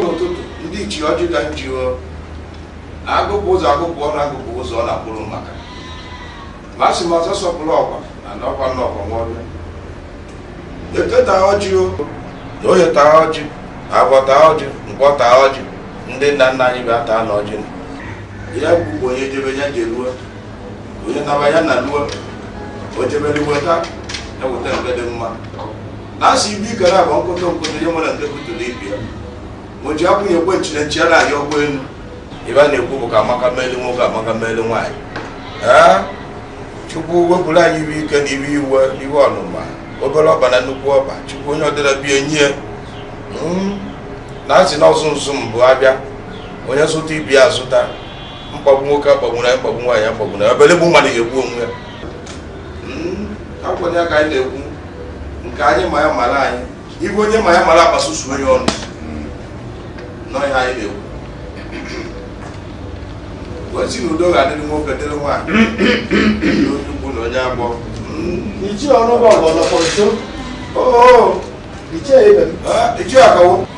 ụtụtụ ndị ichie ọjị ka nji agụpụ ụzọ agụpụ ọnụ agụpụ ụzọ ọ na-akpụrụ maka ma sị ma ọzọ sọpụrụ ọkwa na n'ọkwa n'ọkwa nwaọbịa eke taa ọjị o na oye taa ọjị afọ taa ọjị nkwọ taa ọjị ndị nna nna anyị bịa taanụ ọjị ya gbugbo onye jebe ya jeruo onye naba ya naluo o jebere weta eweta mgbe dị mma na a sị ibu ike na-agba nkoto nkoto ihe nwere nke butụrụ ibi ya ma o ji akwụnye ekwe nchine nchi ya na-arị ọgbọ elu ife a na-ekwu bụ ka amaka meli nwoke amaka meli nwaanyị ee chukwu wepụrụ anyị ife ike na ife iwe iwe ọnụma obere ọba na nnukwu ọba chukwu onye ọdịra bie nye na a sị na ọsụ nsụ mbụ abịa onye zụta ibi ya azụta mkpagbu nwoke akpagbuna mkpagbu nwaanyị akpagbuna ọbịalụ egbu mmadụ ga-egbu onwe ya hmm, akwanye aka anyị na-ekwu nke anyị ma ya mara anyị ife onye ma ya mara akpasusu onye ọnụ hmm. nọ ihe anyị na-ekwu wee sị na udo ga-adịrị nwoke dịrị nwaanyị n'okwu na onye agbọ hmm. ichie ọrụ bụ ọgbọnọkọ nso oh. ichie ebe m ichie akawo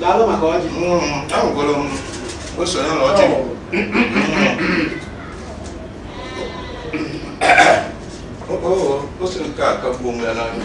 Daalụ maka ọjị. Ahụgoro m ose ya na ọjị. Ose nke a kagbuo onwe ya n'anya.